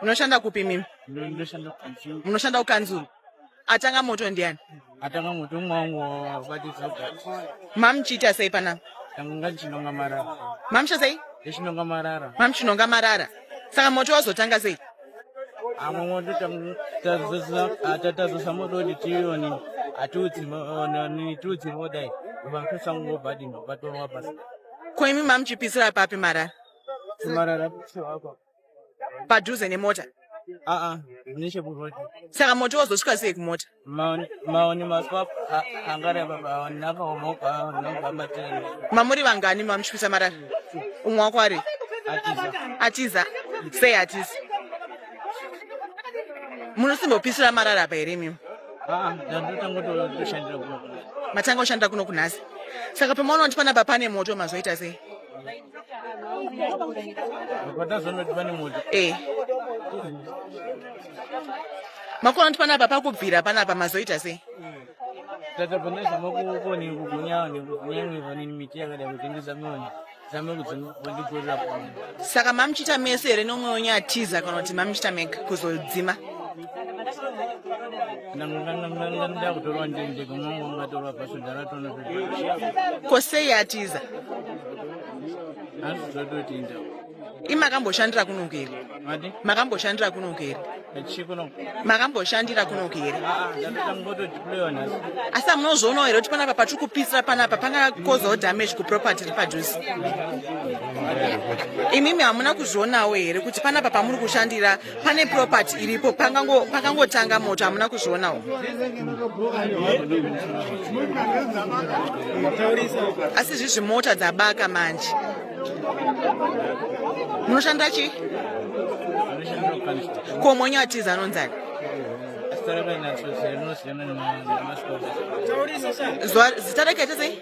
Unoshanda kupi mimi? Ndoshanda kukanzuru. Unoshanda kukanzuru. Atanga moto ndiani? Atanga moto mwangu wabatisa ugati. Mam chita sei pana? Tanga chinonga marara. Mam chita sei? Chinonga marara. Mam chinonga marara. Saka moto wazotanga sei? Amwe moto tazosa atatazosa moto ndi tioni. Atutsi moto ni tutsi moto dai. Vakusango badi ndo batwa mabasa. Ko imi mam chipisira papi marara? padhuze nemota aa nechekuroad saka moto wozosvika sei kumota maoni maoni makwap angareba maoni akaomoka nogamatene mamuri vangani mamuchipisa marara umwe wako ari atiza atiza sei atiza munosimbopisira marara apa here imimi aa ndandotanga kushandira kuno matanga kushanda kuno kunhasi saka pamaona kuti panapa pane moto mazoita sei Eh. makona kuti panapa pakubvira panapa mazoita sei tatobvonesa makukoni kugunyawo nekugunyangiva nini miti yakada kutengesa mionya saka mamuchita mese here nomwe wenyatiza kana kuti mamuchita mega kuzodzima ko sei atiza imakamboshandira kunoku here makamboshandira kunoku here makamboshandira kunoku here ah, ah, asi amunozvoonawo here kuti panapa patiri kupisira panapa pangakozawo damage kuproperty ri padhuze imimi hamuna kuzvionawo here kuti panapa pamuri kushandira pane property iripo pakangotanga moto hamuna kuzvionawo asi zvizvi mota dzabaka manje munoshanda chii ko mwenyu atiza anonzani zita rake atizei